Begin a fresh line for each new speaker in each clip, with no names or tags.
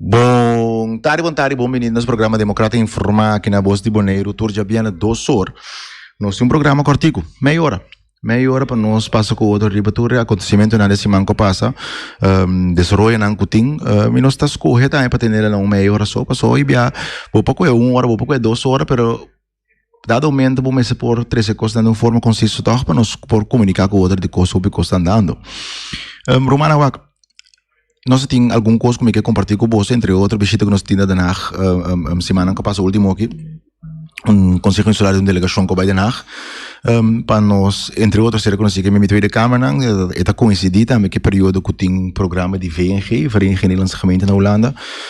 Bon tardi bon tardi bon bini nos programa Democrata Informa aki na Bos di Boneiru tur djabiena dos or. Nos tin un programa cortico, meia hora. Meia hora pa nos pasa cu otro riba tur e acontecimentonan de siman cu a pasa, um, desaroyonan cu tin, um, y nos ta scoge tambe pa tenela na un meia hora so, pasobra hoy bia bo pa coge un hora, bo pa coge dos hora, pero, Dado momento bo mester por trece cos dando un forma conciso toch pa nos por comunica cu otro de cos hopi cos tan dando. Um, Romana wak, nos tin algun cos como que compartir cu vos, entre otro visita que nos tin na Den Haag um, um, semana que pasa último aquí. Un consejo insular de un delegacion que vai Den Haag. Um, pa nos, entre otro, ser conocido que mi tweede kamernan, eta coincidi tambe que periodo que tin programa de VNG, Vereniging Nederlandse Gemeenten na Holanda.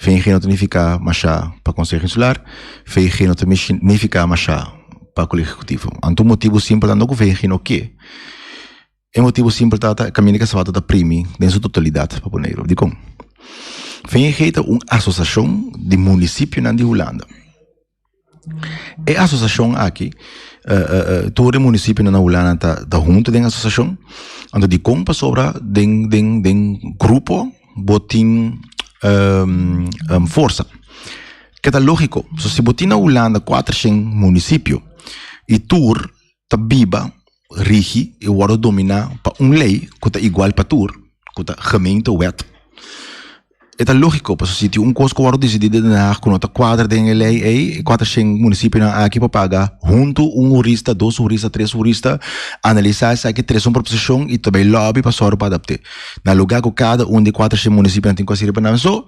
VG no ta nifiká mashá pa Konseho Insular, VG no ta nifiká mashá pa Kolegio Ekekutivo. Anto un motibu simpel ta no ku VG no ke. E motibu simpel ta ta kaminda di Kasabato ta primi den su totalidat pa Boneiru. Dikon? VG ta un asosiashon di munisipionan di Hulanda. E asociacion aki tur e municipionan na hulanda ta hunto den asociacion anto dikon pasobra den den den grupo bo tin forsa ke ta logico pasobra si bo tin na hulanda cuater shen municipio y tur ta biba. rigi i wòrdu dominá pa un lei ku ta igual pa tur, ku ta gemeente wet. E ta lógiko pasobra si tin un kos ku wòrdu desidí den Den Haag ku no ta kuadra den e lei ei, e kuater shen munisipionan aki por paga huntu un hurista, dos hurista, tres hurista, analisá esaki, trese un proposishon i ta bai lòbi pa sòru pa adapt'é. Na lugá ku kada un di e kuater shen munisipionan tin ku a sirbi pa nan so,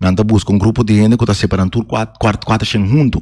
nan ta buska un grupo di hende ku ta separá nan tur kuater shen huntu.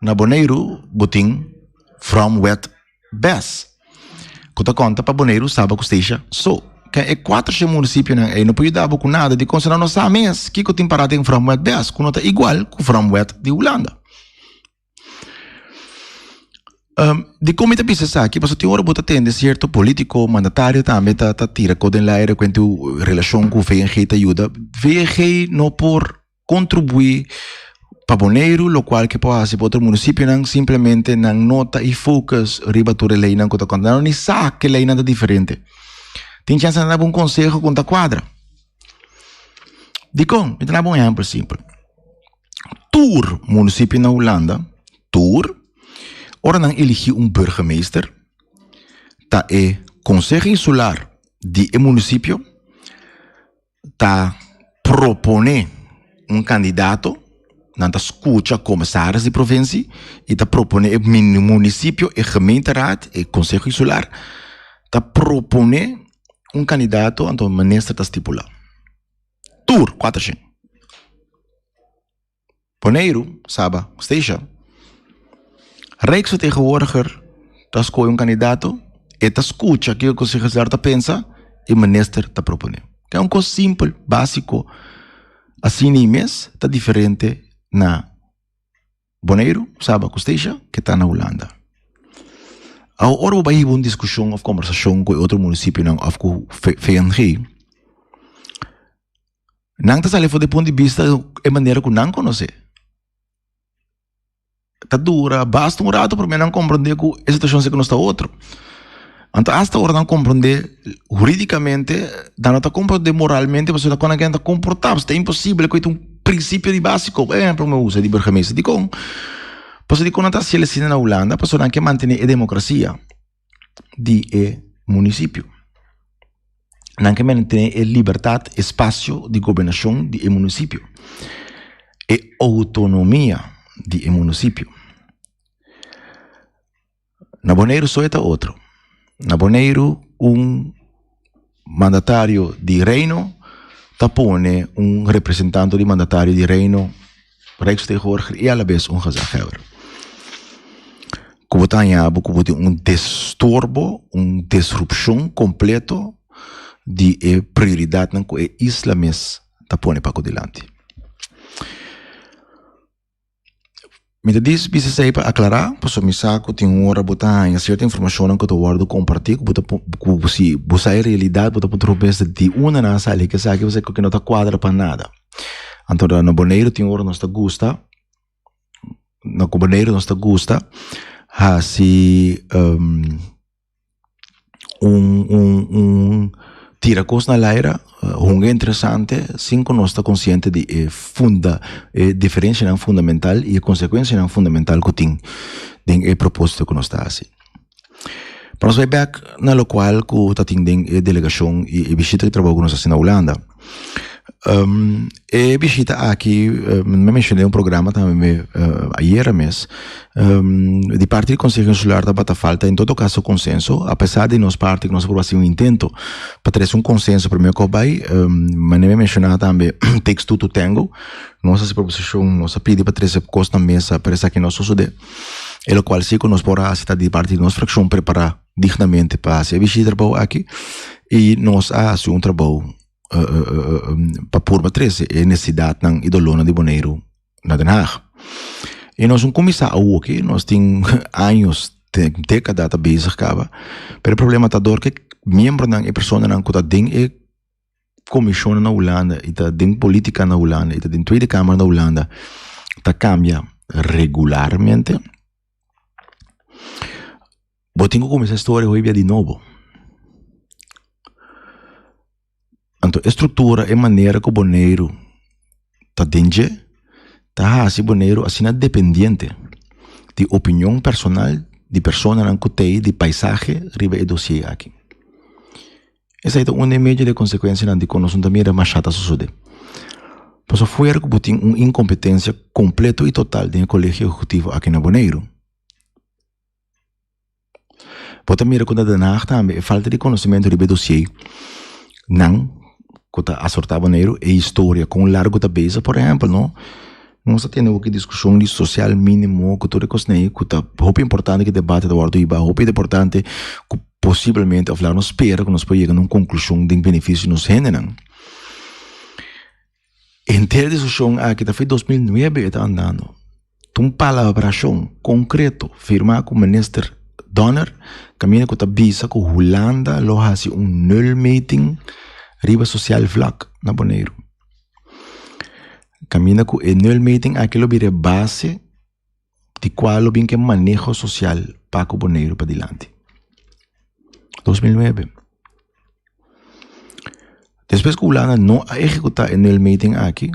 Na Boneiru bo tin From Wet Bes ku ta konta pa Boneiru Saba ku Steisha So ken e kuater she munisipionan ei no por yuda bo ku nada di konsa no sa mes kiko tin para den From Wet Bes ku no ta igual ku From Wet di Hulanda Dikon mi ta bisa esaki pasobra tin ora bo ta tende sierto politiko mandatario tambe ta tira kot den al aire kuent di relashon ku VNG ta yuda VNG no por. contribui pa Boneiru locual ke por haci pa otro municipionan simplemente nan no ta y focus riba tur e leynan cu ta contra nan no ni sa ke leynan ta diferente tin chance nan ta daba un conseho con ta cuadra dicon mi ta daba un ehempel simpel tur municipio na Hulanda tur ora nan eligi un burgemeester ta e conseho insular di e municipio ta propone un candidato nan ta scucha comisaris di provincie y ta propone e municipio e gemeenteraad e conseho insular ta propone un candidato anto minister ta stipula tur cuater shen. Boneiru, Saba, Stacia. Rijksvertegenwoordiger ta skohe un kandidato, e ta skucha kiko kos e gezelligheid ta pensa, e minister ta propone. Ta un kos simpel, básiko, asina ei mes ta diferente na Boneiru, Saba ku Stacia ke ta na Hulanda. Awo ora bo bai hiba un diskushon òf kòmbersashon ku e otro munisipinan òf ku VNG, Nan ta sali for di pun di bista e manera ku nan konos'é. Ta dura, basta un ratu promé nan komprondé ku e situashon si ku nos ta otro. Anto asta ora nan komprondé huridikamente, nan lo ta komprondé moralmente pasobra nan kono kian ta komportá. Pasobra ta imposibel ku it un prinsipio di básiko. Por ehèmpel mi usa di burgemeester dikon, pasobra dikon nan ta hasiel asina na Hulanda? Pasobra nan ke mantené e demokrasia. di e munisipio. Nan ke mester tene e libertat, e spasio di gobernashon di e munisipio. E outonomia di e munisipio. Na Boneiru so e ta otro. Na Boneiru un. mandatario di Reino ta pone un representante di mandatario di Reino, Rijksvertegenwoordiger y a la vez un gezaghebber. Cu bo ta hañabo cu bo tin un destorbo, un disrupcion completo di e prioridadnan cu e isla mes ta pone paco dilanti. Mi ta bisa esei pa aclara pasobra mi sa cu tin un ora bo ta haña cierto informacionnan cu ta wordo comparti cu bo ta cu si bo sa e realidad bo ta puntra un bes di dunda nan a sali ki esaki pasobra esaki no ta cuadra pa nada anto na boneiru tin ora nos ta gusta na cu boneiru nos ta gusta haci. un un un tira cos na laira hunga interesante sin cu nos ta consciente di e funda e diferencianan fundamental y e consecuencianan fundamental cu tin den e proposito cu nos ta haci pa nos bay back na locual cu ta tin den e delegacion y e bishita di trabajo cu nos ta haci na Hulanda. Um, e bishita aki, uh, me mencioné un programa también me, uh, ayer mes, um, di parte del Consejo Insular da bata falta en todo caso consenso, a pesar de nos parte que nos por hacer un intento para traer un consenso primero que bay, um, mané me mencionaba también texto tu tengo, nos hace proposición, nos pide para traer cosas na mesa, pero esa que no sucede, el cual sí que nos por hacer de parte de nos fracción preparar dignamente pa hasi e bishi trabou aki y nos a hasi un trabou pa purba trese e necesidadnan y dolornan di Boneiru na Den Haag. Y nos no cuminsa awoke, nos tin años, tin decada ta bezig caba, pero e problema ta dor cu e miembronan, e personanan cu ta den e comisionnan na Hulanda y ta den politica na Hulanda y ta den Tweede Kamer na Hulanda ta cambia regularmente. Bo tin ku kuminsá e storia hoy dia di nobo. Anto e struktura, e manera ku Boneiru ta den dje ta hasi Boneiru asina dependiente di opinion personal di personanan ku tei di paisahe riba e dosier aki. Esei ta un e medio di konsekuensianan di kon nos no ta mira mashá ta sosodé. Paso fuera ku bo tin un inkompetensia kompleto i total den e Kolegio Ehekutivo aki na Boneiru, bo ta mira ku na Den Haag tambe e falta di konosementu riba e dosié nan ku ta asortá Boneiru, e historia kon largu ta beza. Por ehèmpel no, nos a tende oki diskushon di sosial minimo ku tur e kosne'e ku ta hopi importante ku e debate ta wòrdu hibá, hopi importante ku. posiblemente of laga nos spera ku nos por yega na un konklushon den benefisio di nos hendenan. Henter diskushon aki ta fai dos mil nuebe e ta andando. Ta un palabrashon konkreto firmá ku minister Donner kaminda ku ta bisa ku Hulanda lo hasi un nulmeting riba sosial vlak na Boneiru. Kaminda ku e nulmeting aki lo bira e base. di cual lo bin ke maneho social Paco Boneiru padilanti. 2009. Despues cu Hulanda no a ejecuta e nuel meting aki,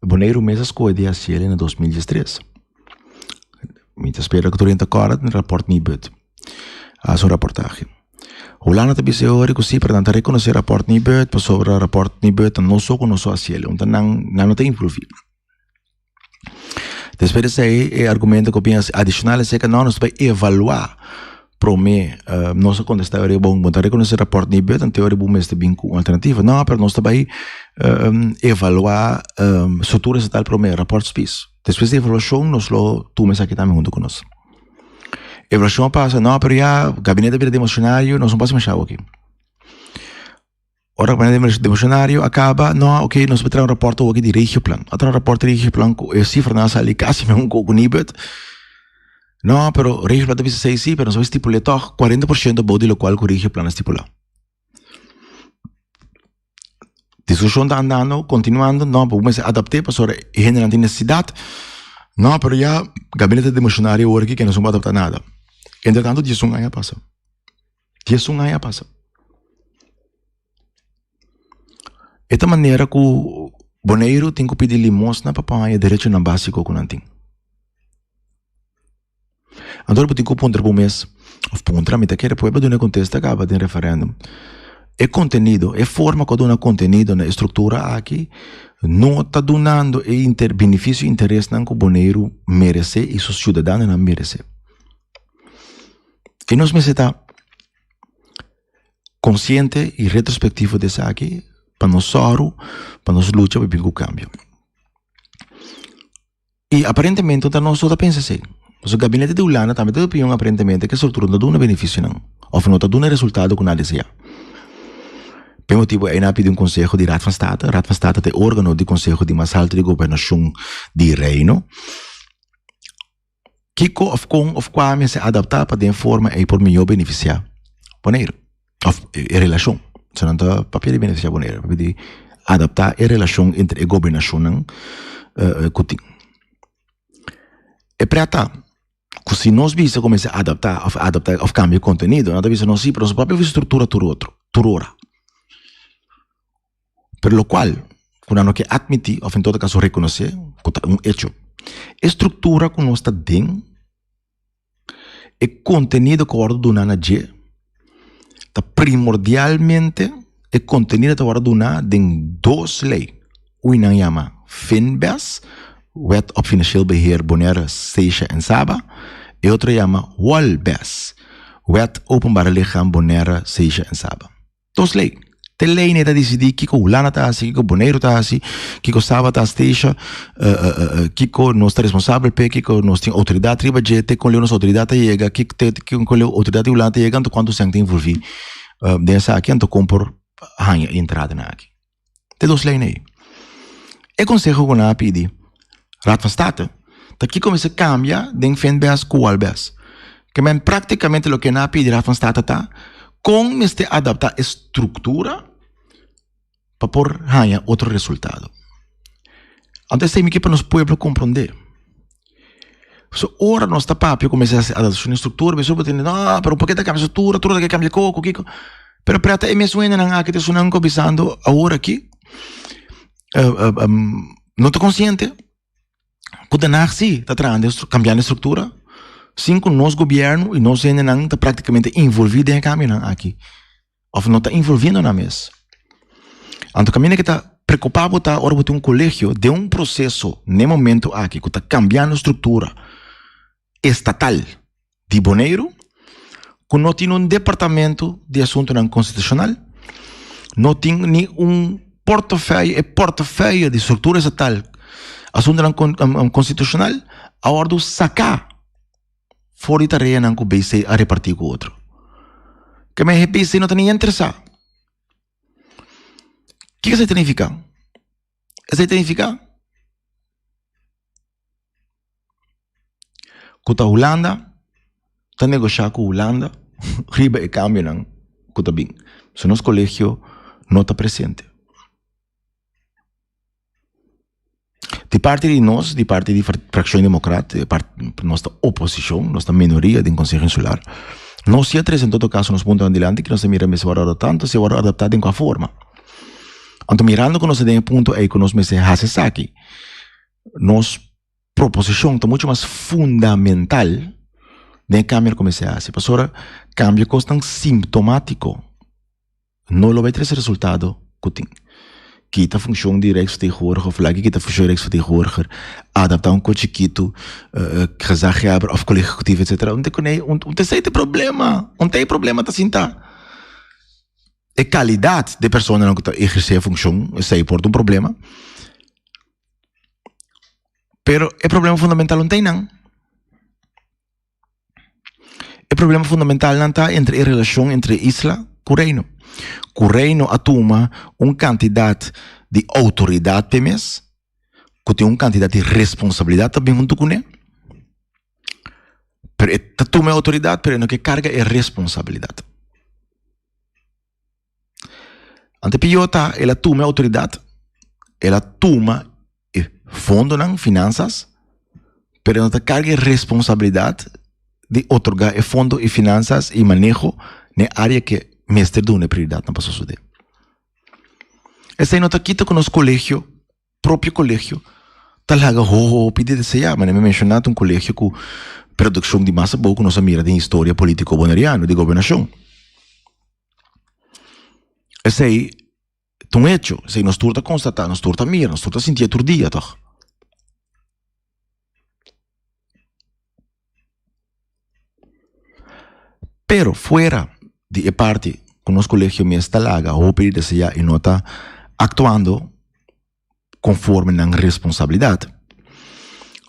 Boneiru mes a scoe di haciel na 2013. Mi ta spera cu tur ta corda den rapport Nibud. A su rapportage. Hulanda ta bise ori cu si, pero nan ta reconoce rapport Nibud pasobra rapport Nibud ta no so cu no so haciel. Nan no ta improvi. Despues di esei e argumento ku bin adicional esei ku nos bai evalua prome nos a contesta ora e bon bo ta reconoce e rapport di Beuth anto ora bo mester ta bin ku un alternativa no pero nos ta bai evalua struktura estatal prome rapport spies despues di evaluashon nos lo tuma esaki tambe hunto ku nos evaluashon a pasa no pero ya gabinete a bira democionario nos no pasa masha awo aki. Ora ku e demishonario a kaba no a oke nos bai traha un raporto wak di regioplan a traha un raporto di regioplan ku e sifranan a sali kasi men ku kunibet no pero regioplan ta bisa esei si pero nos bai stipul'e tog kuarenta por shento abou di lokual ku regioplan a stipulá diskushon ta andando kontinuando no bo kumesa adapte pasobra e hendenan tin nesesidat no pero ya gabinete demishonario wor aki ke nos no bai adapta nada entre tanto dies un aña a pasa. Dies un aña a pasa. E ta manera ku Boneiru tin ku pidi limosna pa pon haña derechonan básiko ku nan tin. Anto bo tin ku puntra bo mes, òf puntra, mi ta kere pueblo duna e kontesta kaba den referèndum. E kontenido, e forma ku a duna kontenido na e struktura aki no ta dunando e inter benefisio i interesnan ku Boneiru merese i su siudadanonan merese. Y nos mester ta consciente y retrospectivo de esaki pa nos sòru, pa nos lucha pa bin cu cambio. Y aparentemente ta nos ta pensa así. Su gabinete de Hulanda tambe ta opinion aparentemente que structura no duna beneficionan of no ta duna resultado cu nan desea. P'e motibo ei nan a pidi un conseho di Raad van State. Raad van State ta e organo di conseho di mas halto di gobernashon di Reino. Kiko of kon of kua mester adapta pa den forma ei por mihó benefisiá Boneiru of e relashon? Esei nan ta papia di benefisiá Boneiru, papia di adaptá e relashon entre e gobernashonnan ku tin. E prea ta ku si nos bisa ku mester adaptá of adaptá of kambia e kontenido nan ta bisa no si pero nos propio struktura tur otro tur ora. pero lo cual cu nan no ke atmiti of en todo caso reconoce cu ta un hecho. E structura cu nos ta den, e contenido cu word duna na dje, ta primordialmente e contenido ta word duna den dos ley, un y nan yama Finbes, Wet op Financieel Beheer Bonaire, Stecia en Saba, e otro yama Wolbes, Wet Openbare Lichaam Bonaire, Stecia en Saba. Dos lei. Te lei nei ta disidí kiko Hulanda ta hasi, kiko Boneiru ta hasi, kiko Saba ta stecia, kiko nos ta responsabel p'e, kiko nos tin outoridat riba dje, te kon leu nos outoridat ta yega, ki te kon kon leu outoridat di Hulanda ta yega anto kuantu sèn ta involví den esaki anto kon por haña entrada na aki. te dos lei nei. E conseho cu nan a pidi Raad van State ta kico mester cambia den Finbest cu Walbest. Ke men practicamente loke nan a pidi Raad van State ta con mester adapta e structura pa por haya otro resultado. Anto esei mi kier pa nos pueblo comprende. So ora nos ta papia kumesa hasi adaptashon di struktura mi supo tende no pero purke ta kambia struktura tur ta ke kambia koko kiko pero prèt ta e mes wennenan aki ta sunan ko bisando awor aki no ta konsiente ku den Haag si ta trahando e kambiando e struktura sin ku nos gobièrnu i nos hendenan ta praktikamente involvi den e kambionan aki. of no ta involviendo nan mes. Anto camina que ta preocupa bo ta ora bo tin un colegio den un proceso n'e momento aki cu ta cambiando structura estatal di Boneiru cu no tin un departamento di asuntonan constitucional, no tin ni un portafe- e portafe di structura estatal asuntonan constitucional a wordo saca. for di tareanan ku BC a repartí ku otro. Ke men he BC no ta ni interesá. Ke esei ta nifiká? Esei ta nifiká ku ta Hulanda ta negoshiá ku Hulanda riba e kambionan ku ta bin. So nos kolegio no ta presente. Di parti di nos, di parti di Fraccion Democrat, nos ta oposicion, nos ta minoria den Conseho Insular, nos ya tres en todo caso nos punto adelante nos ta mira mester word tanto si word adapta den cua forma. Anto mirando cu nos ta den e punto ey cu nos mester haci esaki nos proposicion ta mucho mas fundamental den e cambio cu mester haci pasobra cambio cos tan simptomatico. No lo bai tres resultado ku tin. Kita funkshon di Rijksvertegenwoordiger òf lag'e kita funkshon di Rijksvertegenwoordiger. Adaptá un kochi kitu, gezagheber òf kolega ekekutivo etsetera. Un te kune ei, un te esei te problema. Un te ei problema ta sinta e kalidat di e personanan ku ta ehersé e funkshon esei por ta un problema. Pero e problema fundamental un teinan. E problema fundamentalnan ta entre e relashon entre isla ku reino. Ku reino a tuma un kantidat di outoridat p'e mes, ku tin un kantidat di responsabilidat ta bin huntu kuné, pero e ta tuma e outoridat pero e no ke karga e responsabilidat. Ante piyota el a tuma e outoridat, el a tuma e fondonan, finansas, pero el no ta karga e responsabilidat di otorgá e fondo, e finansas, e maneho na e área ke mester duna e prioridatnan pa sosodé. Esei no ta kita ku nos kolegio. propio colegio ta laga hopi di desea manera mi a menciona ta un colegio cu produccion di mas abou cu nos a mira den historia politico boneriano di gobernacion esey ta un hecho esey nos tur ta constata nos tur ta mira nos tur ta sinti aturdia tog. Pero fuera di e parti ku nos kolegio mes ta laga hopi di desaya i no ta aktuando konforme nan responsabilidat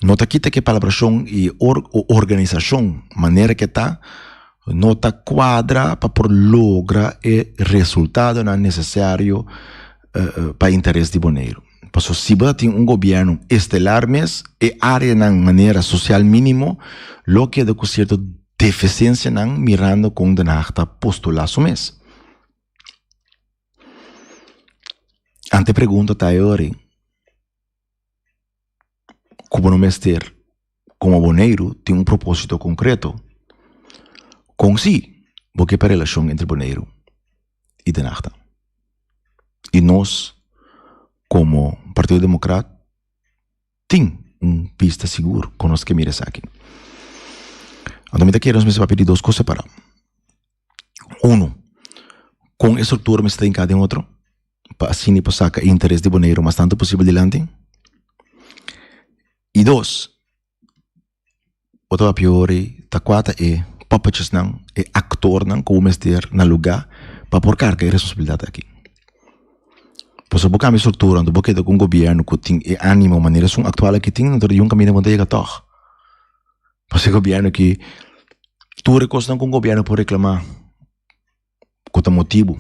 no ta kita ku e palabrashon i organisashon manera ku e ta no ta kuadra pa por logra e resultadonan nesesario pa interes di Boneiru. Paso siba ta tin un gobierno estelar mes, e areanan manera social minimo lo keda cu cierto deficiencianan mirando con Den Haag ta postula su mes. Ante pregunta ta e ori, cu bo no mester komo Boneiru tin un propósito konkreto. Kon si? Bo ke pa relashon entre Boneiru i De Nahta. I nos komo Partido Demokrat tin un pista sigur kon nos ke mira esaki. Anto mi ta kere nos mester papia di dos kos separá. Uno, kon e struktura mester ta hinká den otro pa asina i por saka e interes di Boneiru mas tantu posibel dilanti? i dos otro apiori ta kual ta e puppets nan e aktor nan ku bo mester na lugá pa por karga e responsabilidat aki por eso bo kambia struktura bo keda ku un gobièrnu ku tin e ánimo manera esun aktual aki tin ta yun kaminda bo ta yega tòg pasobra e gobièrnu aki tur e kosnan ku un gobièrnu por reklamá. ku ta motibu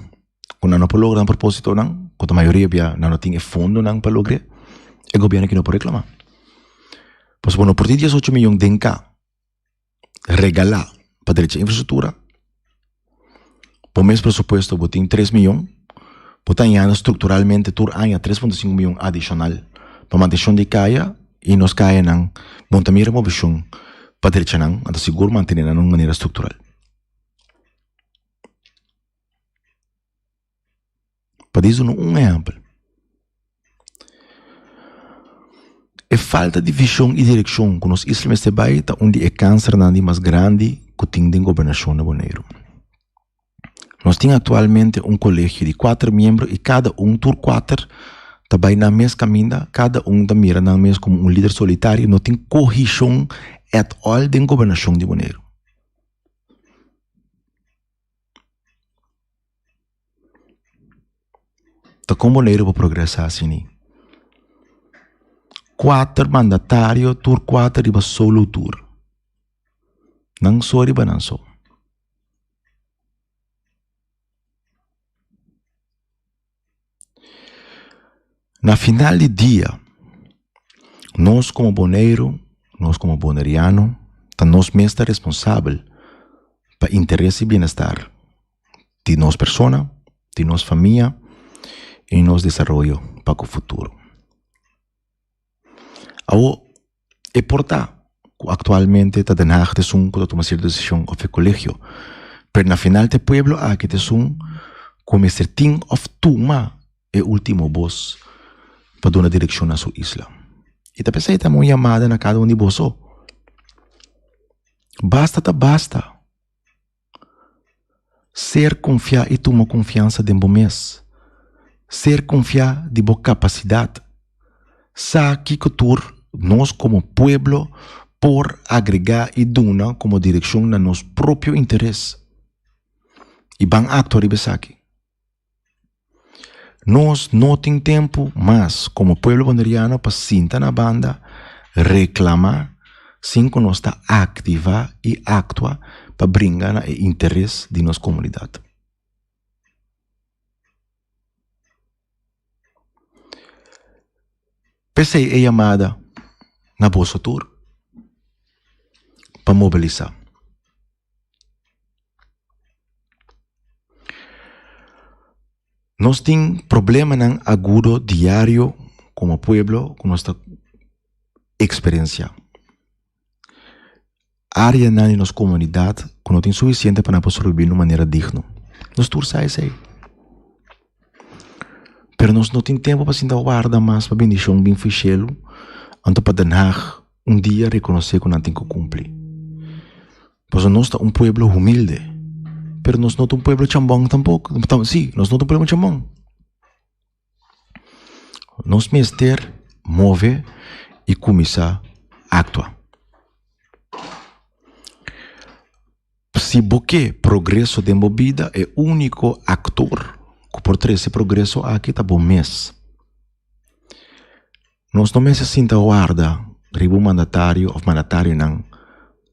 ku nan no por logra nan propositonan ku ta mayoria bia nan no tin e fondonan pa logr'é e gobierno aki no por reklamá pasobra ku no por tin dies ocho miyon den ka regalá pa derecha infrastruktura pa un mes presupuesto bo tin tres miyon bo ta añada strukturalmente tur aña tres punto sinku miyon adishonal pa manteshon di kaya i nos kayanan bon ta mira moveshon pa derechanan anta sigur mantenenan di un manera struktural. Pa disa no un ehempel. E falta di vision y direccion cu nos isla mester bay ta un di e cancer nan di mas grandi cu tin den gobernacion na Boneiru. Nos tin actualmente un colegio di cuater miembro y cada un tur cuater ta bay nan mes caminda, cada un ta mira nan mes como un lider solitario, no tin cohicion at all den gobernacion di Boneiru. Ta con manera pa progresa sini. Kuater mandatario tur kuater riba solo tur. Nan so riba nan so. Na final di dia, nos como Boneiru, nos como Boneriano ta nos mes ta responsabel pa interes y bienestar di nos persona, di nos famia y nos desaroyo pa ku futuro. E por ta cu actualmente ta Den Haag esun cu ta tuma cierto decision of e colegio. Pero na final ta e pueblo aki esun cu mester tin of tuma e ultimo voz pa duna direccion na su isla. Y ta pensá y ta haña un llamada na cada un di boso, basta ta basta! Ser confiá y tuma confiansa den bo mes. Ser confiá di bo capacidad. Sa kico tur nos como pueblo por agregá y duna como direccion na nos propio interes. Y ban actua riba esaki. Nos no tin tempu mas como pueblo Boneriano pa sinta na banda, reclama, sin cu nos ta activa y actua pa bringa na e interes di nos comunidad. P'esey e yamada na boso tur pa mobilisa. Nos tin problemanan agudo diario como pueblo cu nos ta experiencia. Areanan di nos comunidad cu no tin suficiente pa nan por sobrevivir de manera digno. Nos tur sa esey. Pero nos no tin tempo pa sinta warda mas pa bendicion bin official anto pa Den Haag. un dia rekonosé ku nan tin ku kumpli. Paso nos ta un pueblo humilde, pero nos no ta un pueblo chambon tampok. Sí, nos no ta un pueblo chambon. Nos mester move i kuminsá aktua. Si bo ke progreso den bo bida e úniko aktor ku por trese progreso aki ta bo mes. Nos no mester sinta warda riba un mandatario òf mandatarionan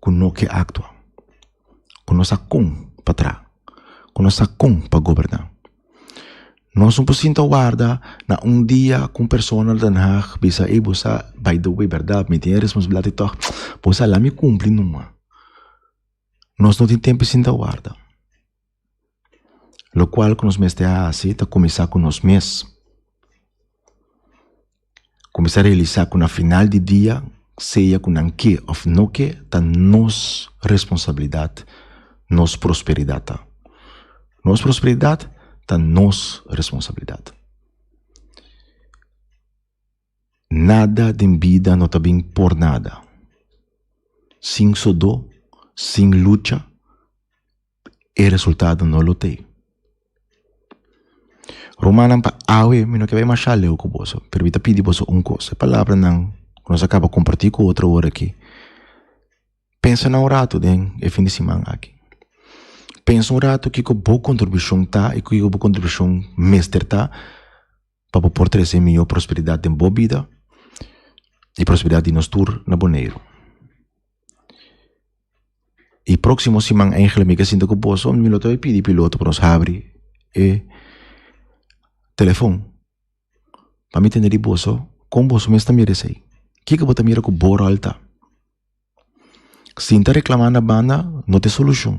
ku no ke aktua, ku no sa kon pa traha, ku no sa kon pa goberná. Nos no por sinta warda na un dia ku un persona na Den Haag bisa ey bo sa by the way berdad mi tin e responsabilidad di tòg bo sa la mi kumpli numa. Nos no tin tempu sinta warda. Lokual ku nos mester hasi ta kuminsá ku nos mes. Kuminsá realisá ku na final di dia, sea ku nan ke òf no ke, ta nos responsabilidat nos prosperidat ta. Nos prosperidat ta nos responsabilidat. Nada den bida no ta bin por nada. Sin sodó, sin lucha e resultado no lo tei. Rumannan pa awe mi no ke bai masha leu ku boso, pero mi ta pidi boso un kos. E palabranan ku nos a kaba kompartí ku otro ora akí, pensa nan un ratu den e fin di siman akí. Pensa un ratu kiko bo kontribushon ta i kiko bo kontribushon mester ta. pa bo por trese mihó prosperidat den bo bida i prosperidat di nos tur na Boneiru. E próksimo siman Angela mi ke sinta ku boso mi lo ta bai pidi piloto pa nos habri e telefon pa mi tende di boso kon boso mes ta mira esei. Kiko bo ta mira ku bo ròl ta? Sinta reklamá na banda no ta e solushon.